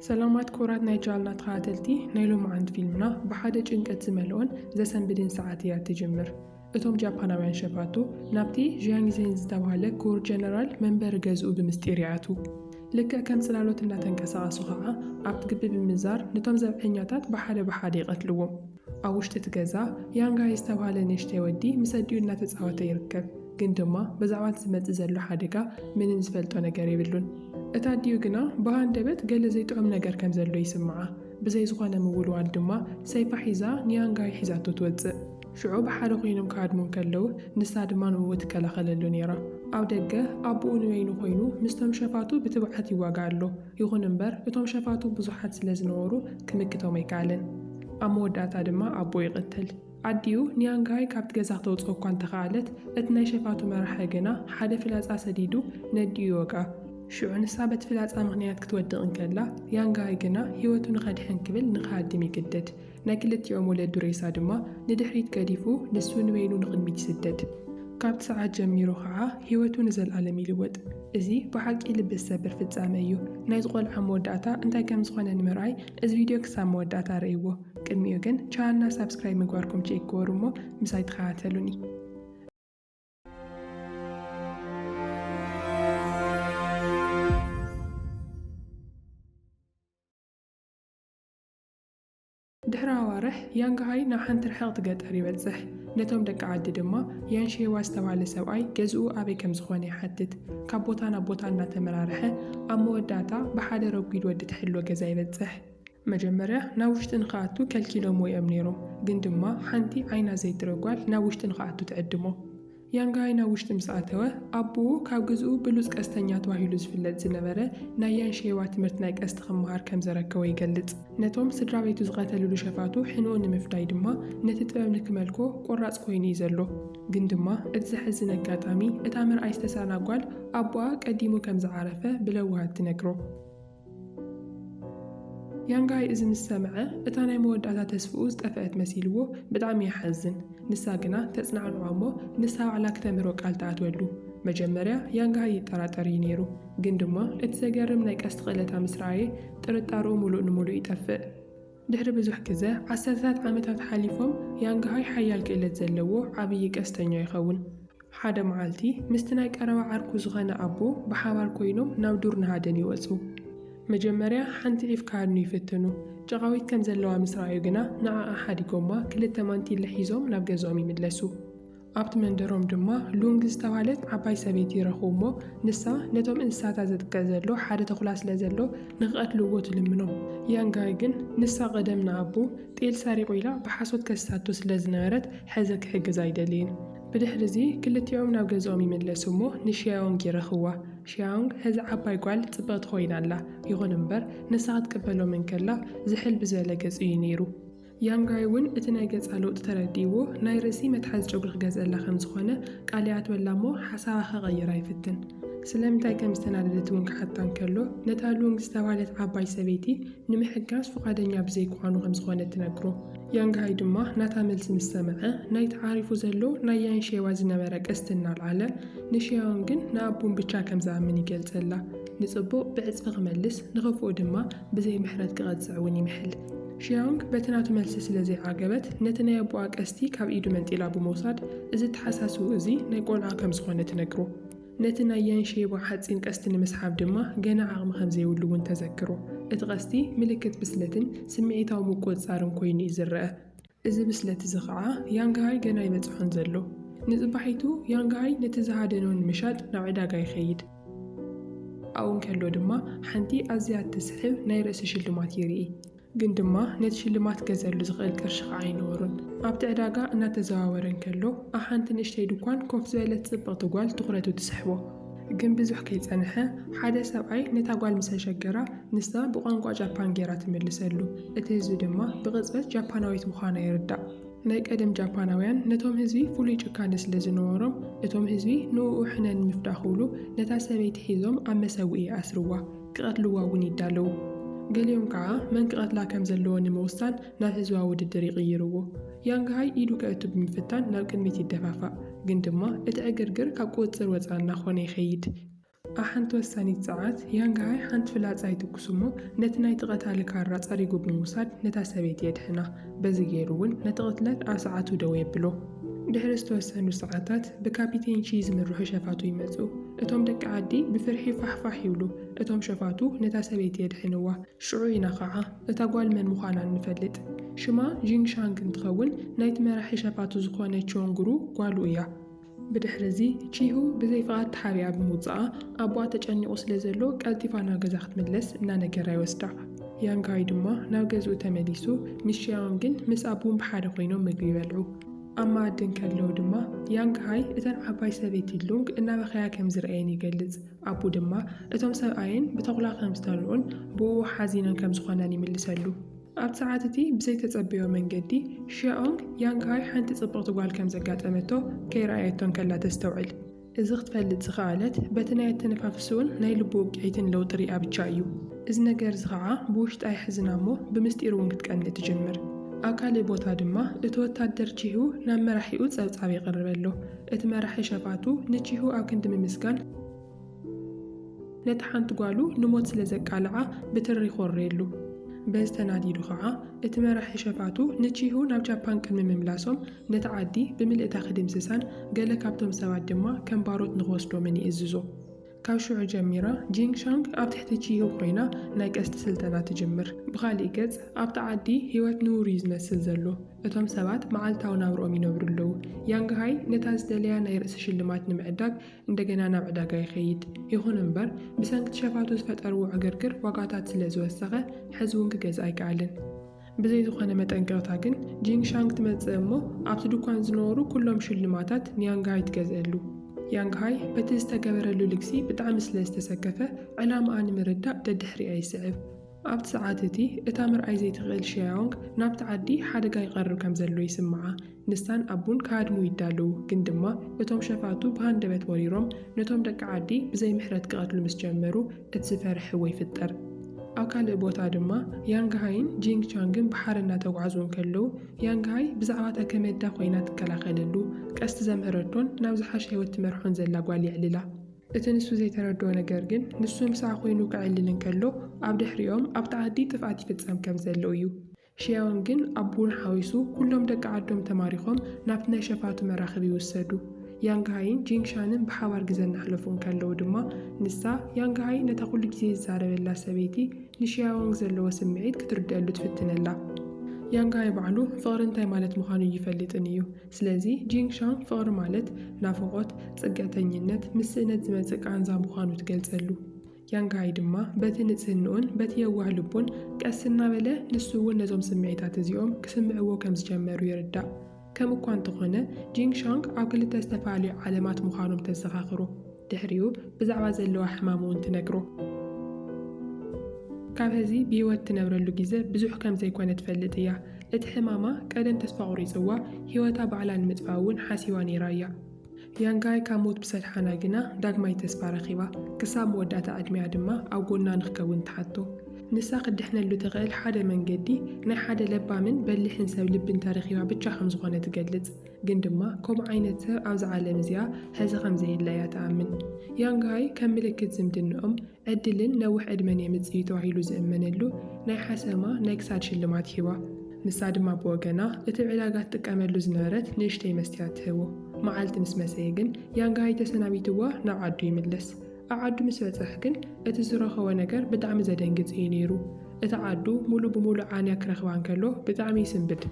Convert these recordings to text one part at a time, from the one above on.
ሰላማት ክቡራት ናይ ቻልና ተኸታተልቲ ናይ ሎምዓንቲ ፊልምና ብሓደ ጭንቀት ዝመልኦን ዘሰንብድን ሰዓት ኢያ ትጅምር እቶም ጃፓናውያን ሸፋቱ ናብቲ ዢያንጊዜን ዝተባህለ ክቡር ጀነራል መንበሪ ገዝኡ ብምስጢር ይኣትዉ ልክዕ ከም ጽላሎት እናተንቀሳቐሱ ኸኣ ኣብ ግቢ ብምዛር ንቶም ዘብዐኛታት ብሓደ ብሓደ ይቐትልዎም ኣብ ውሽጢ እቲ ገዛ ያንጋይ ዝተብሃለ ንእሽተይ ወዲ ምስ ኣዲኡ እናተጻወተ ይርከብ፣ ግን ድማ ብዛዕባ እቲ ዝመጽእ ዘሎ ሓደጋ ምንም ዝፈልጦ ነገር የብሉን። እታ ኣዲኡ ግና ብሃንደበት ገለ ዘይጥዑም ነገር ከም ዘሎ ይስምዓ፣ ብዘይ ዝዀነ ምውልዋል ድማ ሰይፋ ሒዛ ንያንጋይ ሒዛቶ ትወጽእ። ሽዑ ብሓደ ኰይኖም ክሃድሙ እንከለዉ፣ ንሳ ድማ ንእኡ ትከላኸለሉ ነይራ። ኣብ ደገ ኣቦኡ ንበይኑ ኰይኑ ምስቶም ሸፋቱ ብትብዓት ይዋጋእ ኣሎ። ይኹን እምበር እቶም ሸፋቱ ብዙሓት ስለ ዝነበሩ ክምክቶም ኣይከኣለን። ኣብ መወዳእታ ድማ ኣቦኡ ይቕትል። ኣዲኡ ንያንግሃይ ካብቲ ገዛ ክተውጽኦ እኳ እንተ ኸኣለት፣ እቲ ናይ ሸፋቱ መራሒ ግና ሓደ ፍላጻ ሰዲዱ ነዲኡ ይወግኣ። ሽዑ ንሳ በቲ ፍላጻ ምኽንያት ክትወድቕ እንከላ፣ ያንግሃይ ግና ህይወቱ ንኸድሕን ክብል ንኽሃድም ይግደድ። ናይ ክልቲኦም ወለዱ ሬሳ ድማ ንድሕሪት ገዲፉ ንሱ ንበይኑ ንቕድሚት ይስደድ። ካብቲ ሰዓት ጀሚሩ ኸዓ ህይወቱ ንዘልኣለም ይልወጥ። እዚ ብሓቂ ልቢ ዝሰብር ፍጻመ እዩ። ናይዚ ቆልዓ መወዳእታ እንታይ ከም ዝኾነ ንምርኣይ እዚ ቪድዮ ክሳብ መወዳእታ ርኣይዎ። ቅድሚኡ ግን ቻነልና ሳብስክራይብ ምግባርኩም ቼክ ግበሩ እሞ ምሳይ ተኸታተሉኒ። ድሕሪ ኣዋርሕ፣ ያንግሃይ ናብ ሓንቲ ርሕቕቲ ገጠር ይበጽሕ። ነቶም ደቂ ዓዲ ድማ፣ ያን ሼዋ ዝተባህለ ሰብኣይ ገዝኡ ኣበይ ከም ዝዀነ ይሓትት። ካብ ቦታ ናብ ቦታ እናተመራርሐ፣ ኣብ መወዳእታ ብሓደ ረጒድ ወዲ ትሕሎ ገዛ ይበጽሕ። መጀመርያ ናብ ውሽጢ ንኽኣቱ ከልኪሎምዎ እዮም ነይሮም፣ ግን ድማ ሓንቲ ዓይና ዘይትርኢ ጓል ናብ ውሽጢ ንኽኣቱ ትዕድሞ። ያንጋይ ናብ ውሽጢ ምስ ኣተወ፣ ኣቦኡ ካብ ግዝኡ ብሉጽ ቀስተኛ ተባሂሉ ዝፍለጥ ዝነበረ ናይ ያንሸይዋ ትምህርት ናይ ቀስት ክመሃር ከም ዘረከቦ ይገልጽ። ነቶም ስድራቤቱ ዝቐተልሉ ሸፋቱ ሕንኡ ንምፍዳይ ድማ ነቲ ጥበብ ንክመልኮ ቆራጽ ኮይኑ እዩ ዘሎ። ግን ድማ እቲ ዘሕዝን ኣጋጣሚ እታ ምርኣይ ዝተሳእና ጓል ኣቦኣ ቀዲሙ ከም ዝዓረፈ ብለውሃት ትነግሮ። ያንጋይ እዚ ምስ ሰምዐ እታ ናይ መወዳእታ ተስፍኡ ዝጠፈአት መሲልዎ ብጣዕሚ ይሓዝን። ንሳ ግና ተጽናዕንዖ እሞ ንሳ ባዕላ ክተምህሮ ቃል ትኣትወሉ። መጀመርያ ያንጋይ ይጠራጠር እዩ ነይሩ ግን ድማ እቲ ዘገርም ናይ ቀስት ክእለታ ምስ ረኣየ ጥርጣርኡ ምሉእ ንምሉእ ይጠፍእ። ድሕሪ ብዙሕ ግዘ፣ ዓሰርተታት ዓመታት ሓሊፎም፣ ያንግሃይ ሓያል ክእለት ዘለዎ ዓብዪ ቀስተኛ ይኸውን። ሓደ መዓልቲ፣ ምስቲ ናይ ቀረባ ዓርኩ ዝኸነ ኣቦ ብሓባር ኮይኖም ናብ ዱር ንሃደን ይወጹ። መጀመርያ ሓንቲ ዒፍ ክሃድኑ ይፍትኑ። ጨቓዊት ከም ዘለዋ ምስ ረኣዩ ግና ንዓኣ ሓዲጎማ ክልተ ማንቲለ ሒዞም ናብ ገዝኦም ይምለሱ። ኣብቲ መንደሮም ድማ ሉንግ ዝተባህለት ዓባይ ሰበይቲ ይረኽቡ እሞ ንሳ ነቶም እንስሳታት ዘጥቅዕ ዘሎ ሓደ ተኹላ ስለ ዘሎ ንክቐትልዎ ትልምኖም። ያንጋይ ግን ንሳ ቀደም ንኣቦ ጤል ሰሪቑ ኢላ ብሓሶት ከሲሳቶ ስለ ዝነበረት ሕዚ ክሕግዝ ኣይደልይን። ብድሕሪ እዚ ክልቲኦም ናብ ገዝኦም ይምለሱ እሞ ንሽያዮንግ ይረኽብዋ። ሽያዮንግ ሕዚ ዓባይ ጓል ጽብቕቲ ኮይና ኣላ። ይኹን እምበር ንሳ ክትቅበሎም እንከላ ዝሕል ብዝበለ ገጽ እዩ ነይሩ። ያንጋይ እውን እቲ ናይ ገጻ ለውጢ ተረዲእዎ ናይ ርእሲ መትሓዚ ጨጉሪ ክገዝኣላ ከም ዝኾነ ቃል ይኣትወላ እሞ ሓሳባ ከቐይራ ይፍትን። ስለምንታይ ከም ዝተናደደት እውን ክሓታ እንከሎ ነታ ሉንግ ዝተባህለት ዓባይ ሰበይቲ ንምሕጋዝ ፍቓደኛ ብዘይክዃኑ ከም ዝኾነ ትነግሮ። ያንጋይ ድማ ናታ መልሲ ምስ ሰምዐ ናይ ተዓሪፉ ዘሎ ናይ ያን ሼዋ ዝነበረ ቀስቲ እናልዓለ ንሽያውን ግን ንኣቡን ብቻ ከም ዝኣምን ይገልጸላ። ንጽቡቕ ብዕጽፊ ክመልስ ንኽፉእ ድማ ብዘይ ምሕረት ክቐጽዕ እውን ይምሕል። ሺያንግ በቲ ናቱ መልሲ ስለ ዘይዓገበት፣ ነቲ ናይ ኣቦኣ ቀስቲ ካብ ኢዱ መንጢላ ብምውሳድ፣ እዚ እተሓሳስብኡ እዚ ናይ ቆልዓ ከም ዝኾነ ትነግሮ። ነቲ ናይ ያን ሼባ ሓጺን ቀስቲ ንምስሓብ ድማ ገና ዓቕሚ ከም ዘይብሉ እውን ተዘክሮ። እቲ ቀስቲ ምልክት ብስለትን ስምዒታዊ ምቁጽጻርን ኮይኑ'ዩ ዝረኣ። እዚ ብስለት እዚ ኸኣ ያንግሃይ ገና ኣይበጽሖን ዘሎ። ንጽባሒቱ ያንግሃይ ነቲ ዝሃደኖ ንምሻጥ ናብ ዕዳጋ ይኸይድ። ኣብኡ እንከሎ ድማ ሓንቲ ኣዝያ እትስሕብ ናይ ርእሲ ሽልማት ይርኢ። ግን ድማ ነቲ ሽልማት ክገዝኣሉ ዝኽእል ቅርሺ ኸኣ ኣይነበሮን። ኣብቲ ዕዳጋ እናተዘዋወረ እንከሎ ኣብ ሓንቲ ንእሽተይ ድኳን ኮፍ ዝበለት ጽብቕቲ ጓል ትዅረቱ ትስሕቦ። ግን ብዙሕ ከይጸንሐ ሓደ ሰብኣይ ነታ ጓል ምስ ኣሸገራ ንሳ ብቋንቋ ጃፓን ጌራ ትምልሰሉ። እቲ ህዝቢ ድማ ብቕጽበት ጃፓናዊት ምዃና ይርዳእ። ናይ ቀደም ጃፓናውያን ነቶም ህዝቢ ፍሉይ ጭካነ ስለ ዝነበሮም እቶም ህዝቢ ንእኡ ሕነ ንምፍዳእ ክብሉ ነታ ሰበይቲ ሒዞም ኣብ መሰውኢ ይኣስርዋ፣ ክቐትልዋ እውን ይዳለዉ። ገሊኦም ከኣ መን ክቐትላ ከም ዘለዎ ንምውሳን ናብ ህዝባዊ ውድድር ይቕይርዎ። ያንግሃይ ኢዱ ከእቱ ብምፍታን ናብ ቅድሚት ይደፋፋእ፣ ግን ድማ እቲ ዕግርግር ካብ ቁጽጽር ወጻኢ እናኾነ ይኸይድ። ኣብ ሓንቲ ወሳኒት ሰዓት፣ ያንግሃይ ሓንቲ ፍላጻ ይትኩስ'ሞ ነቲ ናይቲ ቀታሊ ካራ ጸሪጉ ብምውሳድ ነታ ሰበይቲ የድሕና። በዚ ገይሩ'ውን ነቲ ቅትለት ኣብ ሰዓቱ ደው የብሎ። ድሕሪ ዝተወሰኑ ሰዓታት፣ ብካፒቴን ቺ ዝምርሑ ሸፋቱ ይመጽኡ። እቶም ደቂ ዓዲ ብፍርሒ ፋሕ ፋሕ ይብሉ፣ እቶም ሸፋቱ ነታ ሰበይቲ የድሕንዋ። ሽዑ ኢና ኸዓ እታ ጓል መን ምዃና እንፈልጥ። ሽማ ዢንግ ሻንግ እንትኸውን ናይቲ መራሒ ሸፋቱ ዝኾነ ቾን ግሩ ጓሉ እያ። ብድሕሪ እዚ ቺሁ ብዘይ ፍቓድ ተሓቢኣ ብምውፅኣ ኣቦኣ ተጨኒቑ ስለዘሎ ቀልጢፋ ናብ ገዛ ክትምለስ እናነገራ ይወስዳ። ያንግ ሃይ ድማ ናብ ገዝኡ ተመሊሱ ሚስ ሺያኦንግን ምስ ኣቡን ብሓደ ኮይኖም ምግቢ ይበልዑ። ኣብ መኣዲ እንከለዉ ድማ ያንግ ሃይ እተን ዓባይ ሰበይቲ ሉንግ እናበኸያ ከምዝረኣየን ይገልፅ። ኣቡ ድማ፣ እቶም ሰብኣየን ብተዅላ ኸም ዝተርኡን ብእኡ ሓዚነን ከም ዝዀናን ይምልሰሉ። ኣብቲ ሰዓት እቲ ብዘይተጸበዮ መንገዲ፣ ሺያኦንግ ያንግሃይ ሓንቲ ጽብቕቲ ጓል ከም ዘጋጠመቶ ከይረኣየቶ እንከላ ተስተውዕል። እዚ ኽትፈልጥ ዝኸኣለት፣ በቲ ናይ ኣተነፋፍስኡን ናይ ልቡ ውቅዒትን ለውጢ ርእያ ብቻ እዩ። እዚ ነገር እዚ ኸኣ ብውሽጣ የሕዝና እሞ ብምስጢር እውን ክትቀንእ ትጅምር። ኣብ ካልእ ቦታ ድማ፣ እቲ ወታደር ቺሁ ናብ መራሒኡ ጸብጻብ የቕርበሎ። እቲ መራሒ ሸፋቱ ንቺሁ ኣብ ክንዲ ምምስጋን፣ ነታ ሓንቲ ጓሉ ንሞት ስለ ዘቃልዓ ብትሪ ይኾርየሉ። በዚ ተናዲዱ ኸዓ እቲ መራሒ ሸፋቱ ንቺሁ ናብ ጃፓን ቅድሚ ምምላሶም ነታ ዓዲ ብምልእታ ክድምስሳን ገለ ካብቶም ሰባት ድማ ከም ባሮት ንኽወስዶምን ይእዝዞ። ካብ ሽዑ ጀሚራ ጂንግ ሻንግ ኣብ ትሕቲ ቺሁ ኰይና ናይ ቀስቲ ስልጠና ትጅምር። ብኻሊእ ገጽ፣ ኣብታ ዓዲ ህይወት ንቡር እዩ ዝመስል ዘሎ። እቶም ሰባት መዓልታዊ ናብርኦም ይነብሩ ኣለዉ። ያንግ ሃይ ነታ ዝደለያ ናይ ርእሲ ሽልማት ንምዕዳግ እንደገና ናብ ዕዳጋ ይኸይድ። ይኹን እምበር፣ ብሰንኪ'ቲ ሸፋቱ ዝፈጠርዎ ዕግርግር ዋጋታት ስለ ዝወሰኸ፣ ሕዚ'ውን ክገዝእ ኣይከኣለን። ብዘይ ዝኾነ መጠንቀቕታ ግን ጂንግ ሻንግ ትመጽእ እሞ ኣብቲ ድኳን ዝነበሩ ኩሎም ሽልማታት ንያንግ ሃይ ትገዝእሉ። ያንግ ሃይ በቲ ዝተገበረሉ ልግሲ ብጣዕሚ ስለ ዝተሰከፈ ዕላማኣ ንምርዳእ ደድሕሪኣ ይስዕብ። ኣብቲ ሰዓት እቲ እታ ምርኣይ ዘይትኽእል ሺያዮንግ ናብቲ ዓዲ ሓደጋ ይቐርብ ከም ዘሎ ይስምዓ። ንሳን ኣቡን ክሃድሙ ይዳለዉ፣ ግን ድማ እቶም ሸፋቱ ብሃንደበት ወሪሮም ነቶም ደቂ ዓዲ ብዘይ ምሕረት ክቐትሉ ምስ ጀመሩ እቲ ዝፈርሕዎ ይፍጠር። ኣብ ካልእ ቦታ ድማ ያንግሃይን ጂንግ ቻንግን ብሓረ እናተጓዕዙ እንከለዉ ያንግሃይ ብዛዕባ እታ ከመዳ ኮይና ትከላኸለሉ ቀስቲ ዘምህረቶን ናብ ዝሓሸ ህይወት ትመርሖን ዘላ ጓል የዕልላ። እቲ ንሱ ዘይተረድኦ ነገር ግን ንሱ ምስኣ ኮይኑ ከዕልል እንከሎ ኣብ ድሕሪኦም ኣብቲ ዓዲ ጥፍኣት ይፍጸም ከም ዘሎ እዩ። ሽያውን ግን ኣቡኡን ሓዊሱ ኩሎም ደቂ ዓዶም ተማሪኾም ናብቲ ናይ ሸፋቱ መራኽብ ይውሰዱ። ያንግሃይን ጂንግሻንን ብሓባር ግዘ እናሕለፉ እንከለዉ ድማ ንሳ፣ ያንግሃይ፣ ነታ ኩሉ ግዜ ዝዛረበላ ሰበይቲ ንሽያዎንግ ዘለዎ ስምዒት ክትርድኣሉ ትፍትነላ። ያንግሃይ ባዕሉ ፍቕሪ እንታይ ማለት ምዃኑ እይፈልጥን እዩ። ስለዚ ጂንግሻን ፍቕሪ ማለት ናፍቖት፣ ፅግዕተኝነት፣ ምስ ስእነት ዝመፅእ ቃንዛ ምዃኑ ትገልፀሉ። ያንግሃይ ድማ በቲ ንጽህንኡን በቲ የዋህ ልቡን ቀስ እናበለ ንሱ እውን ነዞም ስምዒታት እዚኦም ክስምዕዎ ከም ዝጀመሩ ይርዳእ። ከም እኳ እንተኾነ ጂንግ ሻንግ ኣብ ክልተ ዝተፈላለዩ ዓለማት ምዃኖም ተዘኻኽሮ። ድሕሪኡ ብዛዕባ ዘለዋ ሕማም እውን ትነግሮ። ካብ ሀዚ ብህይወት ትነብረሉ ግዘ ብዙሕ ከም ዘይኮነ ትፈልጥ እያ። እቲ ሕማማ ቀደም ተስፋ ቁሪፅዋ ህይወታ ባዕላ ንምጥፋእ እውን ሓሲባ ነይራ እያ። ያንጋይ ካብ ሞት ብሰድሓና ግና ዳግማይ ተስፋ ረኺባ፣ ክሳብ መወዳእታ ዕድሚኣ ድማ ኣብ ጎና ንክከውን ትሓቶ። ንሳ ክትድሕነሉ ትኽእል ሓደ መንገዲ፣ ናይ ሓደ ለባምን በሊሕን ሰብ ልቢ እንተረኺባ ብቻ ከም ዝኾነ ትገልጽ። ግን ድማ ከምኡ ዓይነት ሰብ ኣብዛ ዓለም እዚኣ ሐዚ ከም ዘየለ እያ ትኣምን። ያንጋይ ከም ምልክት ዝምድንኦም፣ ዕድልን ነዊሕ ዕድመን የምጽእ'ዩ ተባሂሉ ዝእመነሉ ናይ ሓሰማ ናይ ክሳድ ሽልማት ሂባ። ንሳ ድማ ብወገና፣ እቲ ዕዳጋ ትጥቀመሉ ዝነበረት ንእሽተይ መስትያት ትህቦ። መዓልቲ ምስ መሰየ ግን ያንጋይ ተሰናቢትዋ ናብ ዓዱ ይምለስ። ኣብ ዓዱ ምስ በጸሕ ግን እቲ ዝረኸቦ ነገር ብጣዕሚ ዘደንግጽ እዩ ነይሩ። እታ ዓዱ ሙሉእ ብሙሉእ ዓንያ ክረኽባ እንከሎ ብጣዕሚ ይስንብድ።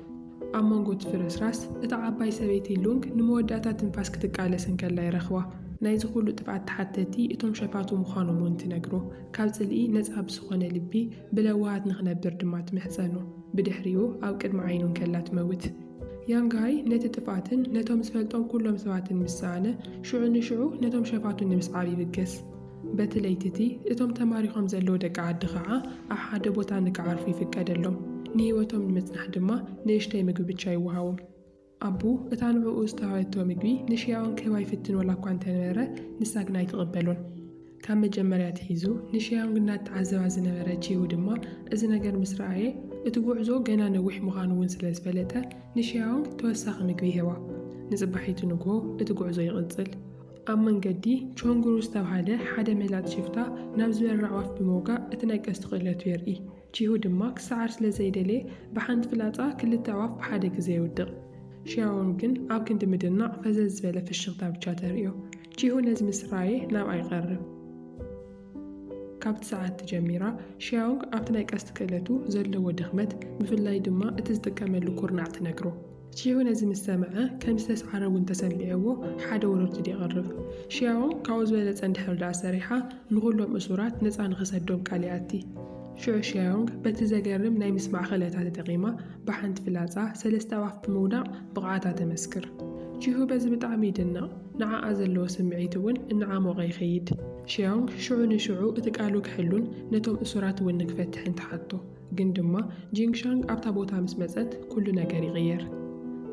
ኣብ መንጎ እቲ ፍርስራስ፣ እታ ዓባይ ሰበይቲ ሉንግ ንመወዳእታ ትንፋስ ክትቃለስ እንከላ ይረኽባ። ናይዚ ኹሉ ጥፍኣት ተሓተቲ እቶም ሸፋቱ ምዃኖም እውን ትነግሮ። ካብ ጽልኢ ነጻ ብዝኾነ ልቢ ብለውሃት ንኽነብር ድማ ትምሕጸኖ። ብድሕሪኡ ኣብ ቅድሚ ዓይኑ እንከላ ትመውት። ያንግ ሃይ ነቲ ጥፍኣትን ነቶም ዝፈልጦም ኩሎም ሰባትን ምስ ሰኣነ፣ ሽዑ ንሽዑ ነቶም ሸፋቱ ንምስዓር ይብገስ። በቲ ለይቲ'ቲ እቶም ተማሪኾም ዘለዉ ደቂ ዓዲ ኸዓ ኣብ ሓደ ቦታ ንክዓርፉ ይፍቀደሎም። ንህይወቶም ንምጽናሕ ድማ ንእሽተይ ምግቢ ብቻ ይወሃቦም። ኣቡ እታ ንዕኡ ዝተዋህበቶ ምግቢ ንሽያኦን ክህባ ይፍትን ወላኳ እንተነበረ ንሳ ግና ኣይትቕበሎን። ካብ መጀመርያ ኣትሒዙ ንሽያኦን እናተዓዘባ ዝነበረ ቺሁ ድማ እዚ ነገር ምስ ረኣየ እቲ ጉዕዞ ገና ነዊሕ ምዃኑ እውን ስለ ዝፈለጠ ንሽያኦንግ ተወሳኺ ምግቢ ይህባ። ንጽባሒቱ ንግሆ እቲ ጉዕዞ ይቕጽል። ኣብ መንገዲ፣ ቾንግሩ ዝተብሃለ ሓደ መላጥ ሽፍታ ናብ ዝበራ ኣዕዋፍ ብምውጋእ እቲ ነገስቲ ክእለቱ የርኢ። ቺሁ ድማ ክሰዓር ስለ ዘይደለየ ብሓንቲ ፍላጻ ክልተ ኣዕዋፍ ብሓደ ግዘ የውድቕ። ሺያዎንግ ግን ኣብ ክንዲ ምድናቕ ፈዘዝ ዝበለ ፍሽኽታ ብቻ ተርእዮ። ቺሁ ነዚ ምስ ረኣየ ናብኣ ይቐርብ። ካብቲ ሰዓትቲ ጀሚራ ሺያዎንግ ኣብቲ ናይ ቀስት ክእለቱ ዘለዎ ድኽመት ብፍላይ ድማ እቲ ዝጥቀመሉ ኩርናዕ ትነግሮ። ቺያዎ ነዚ ምስ ሰምዐ ከም ዝተስዓረ እውን ተሰሚዕዎ ሓደ ወረርትዲ የቕርብ። ሺያዎ ካብኡ ዝበለጸ እንድሕር ደኣ ሰሪሓ ንኹሎም እሱራት ነጻ ንኽሰዶም ቃል ይኣቲ። ሽዑ ሺያዮንግ በቲ ዘገርም ናይ ምስማዕ ክእለታ ተጠቒማ ብሓንቲ ፍላጻ ሰለስተ ኣእዋፍ ብምውዳቕ ብቕዓታ ተመስክር። ቺሁ በዚ ብጣዕሚ ይድነቕ፣ ንዓኣ ዘለዎ ስምዒት እውን እናዓሞቐ ይኸይድ። ሺያዮንግ ሽዑ ንሽዑ እቲ ቃሉ ክሕሉን ነቶም እሱራት እውን ንክፈትሕን ትሓቶ። ግን ድማ ጂንግሻንግ ኣብታ ቦታ ምስ መጸት ኩሉ ነገር ይቕየር።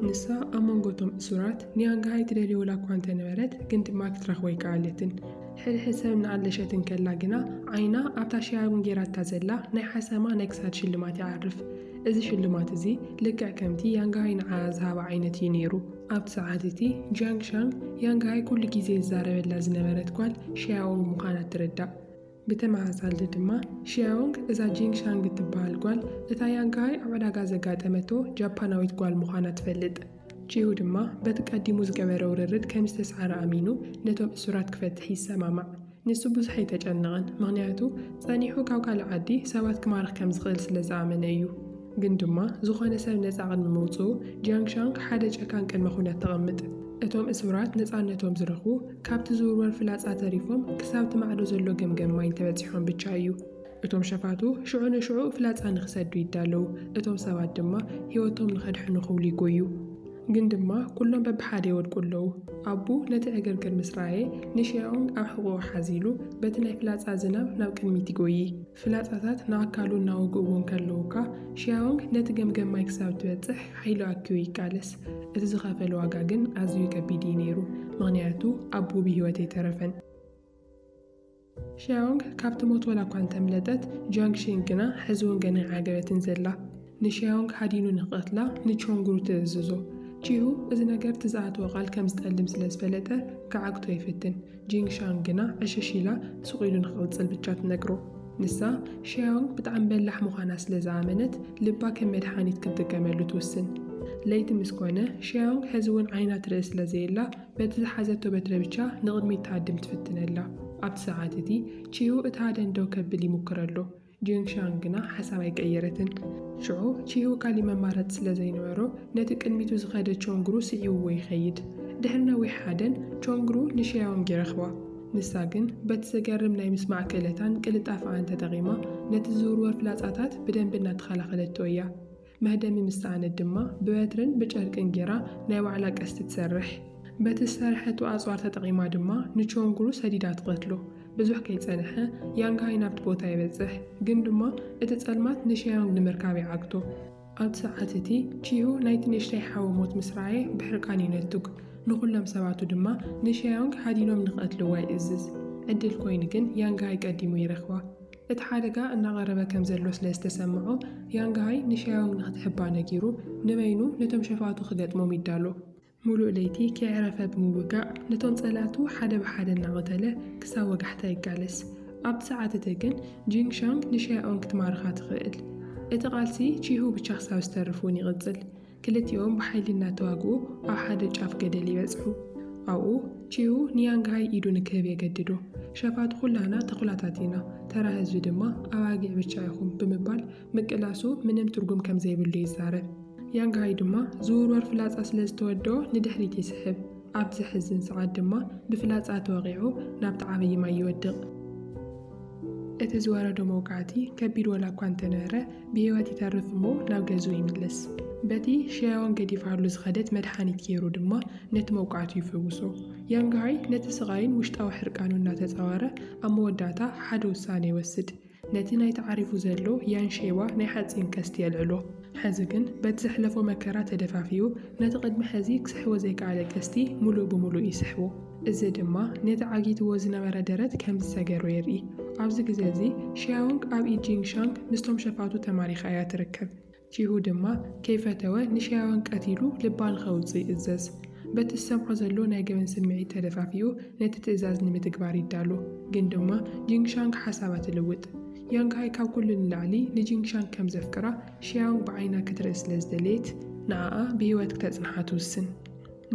ንሳ ኣብ መንጎ እቶም እሱራት ንያንግሃይ ትደልዮ ዋላ'ኳ እንተ ነበረት፣ ግን ድማ ክትረኽቦ ኣይከኣለትን። ሕድሕድ ሰብ እናኣለሸት እንከላ ግና፣ ዓይና ኣብታ ሺያሩን ገይራታ ዘላ ናይ ሓሰማ ናይ ክሳድ ሽልማት ይዓርፍ። እዚ ሽልማት እዚ ልክዕ ከምቲ ያንግሃይ ንዓኣ ዝሃባ ዓይነት እዩ ነይሩ። ኣብቲ ሰዓት እቲ ጂያንግሻንግ፣ ያንግሃይ ኩሉ ግዜ ዝዛረበላ ዝነበረት ጓል ሺያዎ ምዃና ትርዳእ። ብተመሳሳሊ ድማ ሺያዮንግ እዛ ጂንግ ሻንግ እትበሃል ጓል እታ ያንግሃይ ኣብ ዕዳጋ ዘጋጠመቶ ጃፓናዊት ጓል ምዃና ትፈልጥ። ቺሁ ድማ በቲ ቀዲሙ ዝገበረ ውርርድ ከም ዝተስዓረ ኣሚኑ ነቶም እሱራት ክፈትሕ ይሰማማዕ። ንሱ ብዙሕ ኣይተጨነቐን፣ ምኽንያቱ ጸኒሑ ካብ ካልእ ዓዲ ሰባት ክማርኽ ከም ዝኽእል ስለ ዝኣመነ እዩ። ግን ድማ ዝኾነ ሰብ ነጻ ቅድሚ ምውጽኡ፣ ጂያንግ ሻንግ ሓደ ጨካን ቅድመ ኩነት ተቐምጥ። እቶም እሱራት ነጻነቶም ዝረኽቡ፣ ካብቲ ዝውርወር ፍላጻ ተሪፎም ክሳብ'ቲ ማዕዶ ዘሎ ገምገም ማይ እንተበጺሖም ብቻ እዩ። እቶም ሸፋቱ ሽዑ ንሽዑ ፍላጻ ንኽሰዱ ይዳለዉ፣ እቶም ሰባት ድማ ህይወቶም ንኸድሕኑ ክብሉ ይጎዩ። ግን ድማ ኩሎም በብሓደ ይወድቁ ኣለዉ። ኣቡ ነቲ ዕግርግር ምስ ረኣየ፣ ንሺያኦንግ ኣብ ሕቖኡ ሓዚሉ በቲ ናይ ፍላጻ ዝናብ ናብ ቅድሚት ይጎዪ። ፍላጻታት ንኣካሉ እናወግእዎ እንከለዉ እኳ፣ ሺያዎንግ ነቲ ገምገም ማይ ክሳብ እትበጽሕ ሓይሉ ኣኪቡ ይቃለስ። እቲ ዝኸፈሎ ዋጋ ግን ኣዝዩ ከቢድ እዩ ነይሩ፣ ምኽንያቱ ኣቡኡ ብህይወት ኣይተረፈን። ሺያዎንግ ካብቲ ሞት ዋላ'ኳ እንተምለጠት፣ ጂያንግ ሺንግ ግና ሕዚ'ውን ገና ኣይዓገበትን ዘላ። ንሸዮንግ ሃዲኑ ንኽቐትላ ንቾንግሩ ትእዝዞ። ቺሁ እዚ ነገር እቲ ዝኣተዎ ቃል ከም ዝጠልም ስለ ዝፈለጠ ክዓግቶ ይፍትን። ጂንግ ሻንግ ግና ዕሽሽ ኢላ ሱቕ ኢሉ ንኽቕጽል ብቻ ትነግሮ። ንሳ ሸዮንግ ብጣዕሚ በላሕ ምዃና ስለ ዝኣመነት ልባ ከም መድሓኒት ክትጥቀመሉ ትውስን። ለይቲ ምስ ኮነ ሸዮንግ ሕዚ እውን ዓይና ትርኢ ስለ ዘየላ በቲ ዝሓዘቶ በትሪ ብቻ ንቕድሚት ትሃድም ትፍትን ኣላ። ኣብቲ ሰዓት እቲ ቺሁ እቲ ሃደን ደው ከብል ይሙክር ኣሎ። ጂንግሻንግ ግና ሓሳብ ኣይቀየረትን። ሽዑ ቺሁ ካልእ መማረጺ ስለ ዘይነበሮ፣ ነቲ ቅድሚቱ ዝኸደ ቾንግሩ ስዒቡዎ ይኸይድ። ድሕሪ ነዊሕ ሓደን፣ ቾንግሩ ንሸያዎንግ ይረኽባ። ንሳ ግን በቲ ዘገርም ናይ ምስማዕ ክእለታን ቅልጣፈኣን ተጠቒማ፣ ነቲ ዝውርወር ፍላጻታት ብደንቢ እናተኸላኸለቶ እያ። መህደሚ ምስ ሰኣነት ድማ ብበትርን ብጨርቅን ጌራ ናይ ባዕላ ቀስቲ ትሰርሕ። በቲ ዝሰርሐቶ ኣጽዋር ተጠቒማ ድማ ንቾንግሩ ሰዲዳ ትቐትሎ። ብዙሕ ከይጸንሐ፣ ያንግ ሃይ ናብቲ ቦታ ይበጽሕ፣ ግን ድማ እቲ ጸልማት ንሸዮንግ ንምርካብ ይዓግቶ። ኣብቲ ሰዓት እቲ፣ ቺሁ ናይቲ ንእሽተይ ሓዉ ሞት ምስ ረኣየ ብሕርቃን ይነቱግ፣ ንዅሎም ሰባቱ ድማ ንሸዮንግ ሃዲኖም ንኽቐትልዋ ይእዝዝ። ዕድል ኰይኑ ግን ያንግ ሃይ ቀዲሙ ይረኽባ። እቲ ሓደጋ እናቐረበ ከም ዘሎ ስለ ዝተሰምዖ፣ ያንግሃይ ንሻዮንግ ንኽትሕባ ነጊሩ፣ ንበይኑ ነቶም ሸፋቱ ክገጥሞም ይዳሎ። ምሉእ ለይቲ ከየዕረፈ ብምውጋእ ነቶም ጸላእቱ ሓደ ብሓደ እናቐተለ ክሳብ ወጋሕታ ይቃለስ። ኣብቲ ሰዓት እቲ ግን ጂንግ ሻንግ ንሻዮኦንግ ክትማርኻ ትኽእል። እቲ ቃልሲ ቺሁ ብቻ ክሳብ ዝተርፍ እውን ይቕጽል። ክልቲኦም ብሓይሊ እናተዋግኡ ኣብ ሓደ ጫፍ ገደል ይበጽሑ። ኣብኡ፣ ቺዩ ንያንግሃይ ኢዱ ንክህብ የገድዶ። ሸፋቱ ኩላህና ተኹላታት ኢና፣ ተራ ህዝቢ ድማ ኣባጊዕ ብቻ ኢኹም ብምባል ምቅላሱ ምንም ትርጉም ከም ዘይብሉ ይዛረብ። ያንግሃይ ድማ ዝውርወር ፍላጻ ስለ ዝተወድኦ ንድሕሪት ይስሕብ። ኣብ ዘሕዝን ሰዓት ድማ ብፍላጻ ተወቒዑ ናብቲ ዓብዪ ማይ ይወድቕ። እቲ ዝወረዶ መውቃዕቲ ከቢድ ወላ እኳ እንተነበረ ብህይወት ይተርፍ እሞ ናብ ገዝኡ ይምለስ። በቲ ሸያውን ገዲፋሉ ዝኸደት መድሓኒት ገይሩ ድማ ነቲ መውቃዕቱ ይፍውሶ። ያንግሃይ ነቲ ስቓይን ውሽጣዊ ሕርቃኑን እናተጻወረ ኣብ መወዳእታ ሓደ ውሳነ ይወስድ። ነቲ ናይ ተዓሪፉ ዘሎ ያን ሼባ ናይ ሓጺን ቀስቲ የልዕሎ። ሕዚ ግን በቲ ዘሕለፎ መከራ ተደፋፊኡ ነቲ ቅድሚ ሕዚ ክስሕቦ ዘይከኣለ ቀስቲ ምሉእ ብምሉእ ይስሕቦ። እዚ ድማ ነቲ ዓጊትዎ ዝነበረ ደረት ከም ዝሰገሮ የርኢ። ኣብዚ ግዜ እዚ፣ ሺያውንግ ኣብ ኢድ ጂንግ ሻንግ ምስቶም ሸፋቱ ተማሪኻ እያ ትርከብ። ቺሁ ድማ ከይፈተወ ንሺያውንግ ቀቲሉ ልባ ንኸውጽእ ይእዘዝ። በቲ ዝሰምዖ ዘሎ ናይ ገበን ስምዒት ተደፋፊኡ ነቲ ትእዛዝ ንምትግባር ይዳሎ። ግን ድማ ጂንግ ሻንግ ሓሳባ ትልውጥ። ያንግ ሃይ ካብ ኩሉ ንላዕሊ ንጂንግ ሻንግ ከም ዘፍቅራ ሺያውንግ ብዓይና ክትርኢ ስለ ዝደለየት ንዓኣ ብህይወት ክተጽንሓ ትውስን።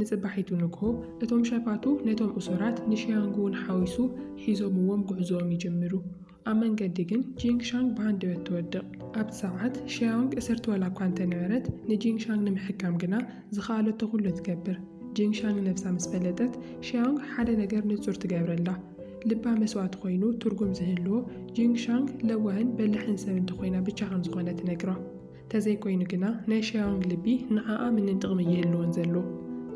ንጽባሒቱ ንግሆ፣ እቶም ሸፋቱ ነቶም እሱራት፣ ንሺያንግ'ውን ሓዊሱ፣ ሒዞምዎም ጕዕዞኦም ይጅምሩ። ኣብ መንገዲ ግን ጂንግ ሻንግ ብሃንደበት ትወድቕ። ኣብቲ ሰዓት ሺያንግ እስርቲ ዋላ እኳ እንተ ነበረት፣ ንጂንግ ሻንግ ንምሕካም ግና ዝኸኣለቶ ዅሉ ትገብር። ጂንግ ሻንግ ነብሳ ምስ ፈለጠት፣ ሺያንግ ሓደ ነገር ንጹር ትገብረላ። ልባ መስዋእቲ ኰይኑ ትርጕም ዝህልዎ፣ ጂንግ ሻንግ ለዋህን በላሕን ሰብ እንተ ዀይና ብቻ ከም ዝዀነ ትነግራ። ተዘይኮይኑ ግና ናይ ሸያውንግ ልቢ ንዓኣ ምንም ጥቕሚ እይህልዎን ዘሎ።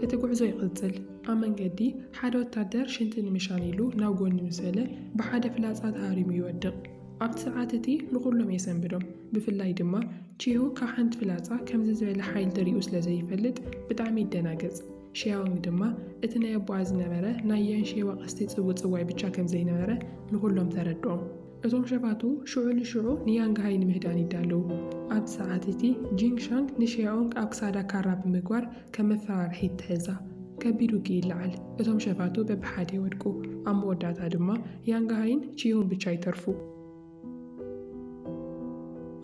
እቲ ጉዕዞ ይቕጽል። ኣብ መንገዲ፣ ሓደ ወታደር ሽንቲ ንምሻን ኢሉ ናብ ጎኒ ምስ በለ፣ ብሓደ ፍላጻ ተሃሪሙ ይወድቕ። ኣብቲ ሰዓት እቲ ንኹሎም የሰንብዶም። ብፍላይ ድማ ቺሁ ካብ ሓንቲ ፍላጻ ከምዚ ዝበለ ሓይል ተሪኡ ስለ ዘይፈልጥ ብጣዕሚ ይደናገጽ። ሸያውንግ ድማ እቲ ናይ ኣቦኣ ዝነበረ ናይ ያንሼዋ ቀስቲ ጽውጽዋይ ብቻ ከም ዘይነበረ ንኹሎም ተረድኦም። እቶም ሸፋቱ ሽዑ ንሽዑ ንያንግሃይ ንምህዳን ይዳለዉ። ኣብቲ ሰዓት እቲ፣ ጂንግ ሻንግ ንሸያኦንግ ኣብ ክሳዳ ካራ ብምግባር ከም መፈራርሒ ይትሕዛ። ከቢድ ውግእ ይለዓል፣ እቶም ሸፋቱ በብሓደ ይወድቁ፣ ኣብ መወዳእታ ድማ ያንግሃይን ቺሁን ብቻ ይተርፉ።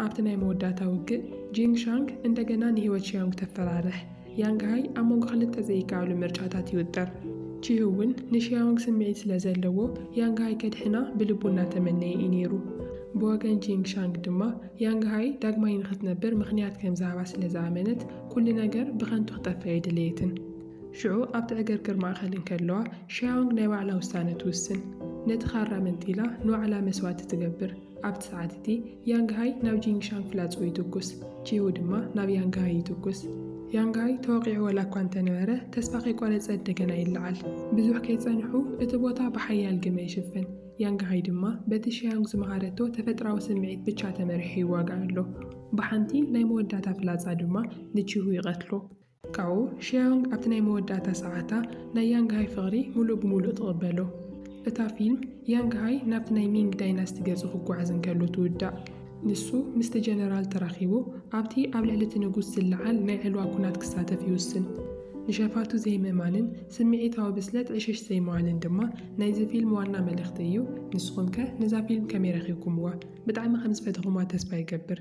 ኣብቲ ናይ መወዳእታ ውግእ፣ ጂንግ ሻንግ እንደገና ንህይወት ሸያኦንግ ተፈራርሕ። ያንግሃይ ኣብ መንጎ ክልተ ዘይከኣሉ ምርጫታት ይውጠር። ቺህውን ንሺያውንግ ስምዒት ስለ ዘለዎ ያንግሃይ ከድሕና ብልቡ እናተመነየ እዩ ነይሩ። ብወገን ጂንግ ሻንግ ድማ ያንግሃይ ዳግማይ ንኽትነብር ምኽንያት ከም ዝሃባ ስለ ዝኣመነት ኩሉ ነገር ብኸንቱ ክጠፍእ ኣይደለየትን። ሽዑ ኣብቲ ዕግርግር ማእከል እንከለዋ ሺያውንግ ናይ ባዕላ ውሳነ ትውስን። ነቲ ካራ መንጢላ ንባዕላ መስዋእቲ ትገብር። ኣብቲ ሰዓት እቲ ያንግሃይ ናብ ጂንግሻንግ ፍላጽኡ ይትኩስ፣ ቺሁ ድማ ናብ ያንግሃይ ይትኩስ። ያንግሃይ ተወቒዑ ዋላኳ እንተነበረ፣ ተስፋ ከይቆረጸ እንደገና ይለዓል። ብዙሕ ከይጸንሑ እቲ ቦታ ብሓያል ግመ ይሽፍን፣ ያንግሃይ ድማ በቲ ሺያንግ ዝመሃረቶ ተፈጥራዊ ስምዒት ብቻ ተመሪሑ ይዋጋእ ኣሎ። ብሓንቲ ናይ መወዳእታ ፍላጻ ድማ ንቺሁ ይቐትሎ። ካብኡ ሺያውንግ ኣብቲ ናይ መወዳእታ ሰዓታ ናይ ያንግሃይ ፍቕሪ ምሉእ ብምሉእ ትቕበሎ። እታ ፊልም፣ ያንግሃይ ናብቲ ናይ ሚንግ ዳይናስቲ ገጹ ክጓዓዝ እንከሎ ትውዳእ። ንሱ ምስቲ ጀነራል ተራኺቡ ኣብቲ ኣብ ልዕሊ እቲ ንጉስ ዝለዓል ናይ ዕልዋ ኵናት ክሳተፍ ይውስን። ንሸፋቱ ዘይምእማንን ስምዒታዊ ብስለት ዕሽሽ ዘይምባልን ድማ ናይዚ ፊልም ዋና መልእኽቲ እዩ። ንስኹምከ ነዛ ፊልም ከመይ ረኺብኩምዋ? ብጣዕሚ ከም ዝፈተኹማ ተስፋ ይገብር።